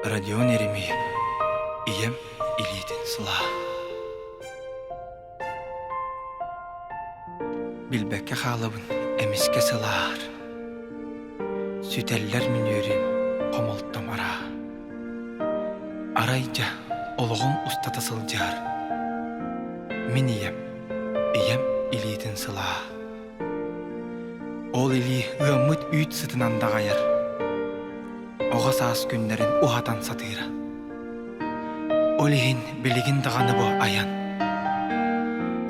Родион Эримии ийэм илиитин сылаа Билбэккэ хаалабын эмискэ сылаар Сүтэллэр мүнүөрүм хомолтом араа Арай дьэ, олоҕум устата сылдьар. Мин ийэм, ийэм илиитин сылаа. Ол илии ыаммыт үүт сытынан даҕайар. Оҕо саас күннэрин уһатан сатыыра. Ол иһин билигин даҕаны бу айан.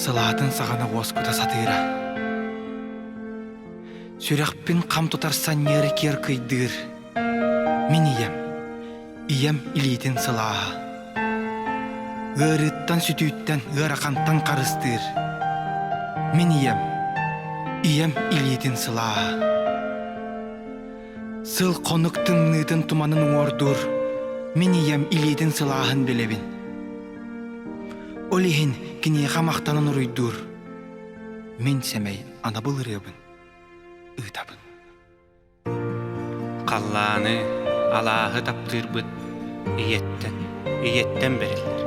Сылаатын саҕана уоскута сатыыра. Сүрэхпин хам тутар санньыары киэр кыйдыыр. Мин ийэм, ийэм илиитин сылааһа. Ыарыыттан сүтүүттэн, ыарахантан харыстыыр. Мин ийэм, ийэм илиитин сылааһа. Сыл хонук тымныытын туманын уҥуордуур, мин ийэм илиитин сылааһын билэбин. Ол иһин киниэхэ махтанан уруйдуур. Мин сэмэй анабыл ырыабын ыытабын. Халлааны алааһы таптыырбыт ийэттэн, ийэттэн бэриллэр.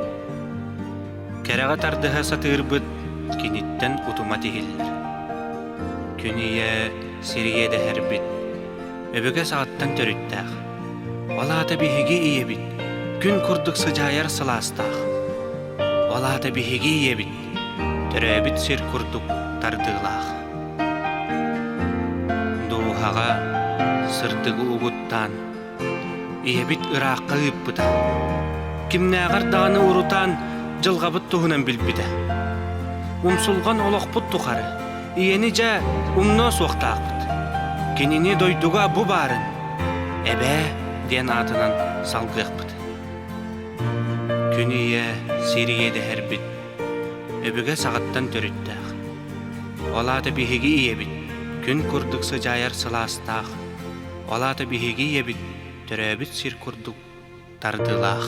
Кэрэҕэ тардыһа сатыырбыт киниттэн утума тиһиллэр. Күн ийэ сирийэ дэһэрбит, өбүгэ саҕаттан төрүттээх. Ол аата биһиги ийэбит, күн курдук сыдьаайар сылаастаах. Ол аата биһиги ийэбит Төрөөбүт сир курдук тардыылаах. Дууһаҕа сырдыгы угуттаан, ийэбит ыраахха ыыппыта. Кимнээҕэр даҕаны урутаан дьылҕабыт туһунан билбитэ. Умсулҕан олохпут тухары ийэни дьэ умнуо суохтаахпыт. Кинини дойдуга бу баарын эбээ диэн аатынан салгыахпыт. Күн ийэ сир иэдэһэрбит өбүгэ саҕаттан төрүттээх. Ол аата биһиги ийэбит күн курдук сыдьаайар сылаастаах, ол аата биһиги ийэбит төрөөбүт сир курдук тардыылаах.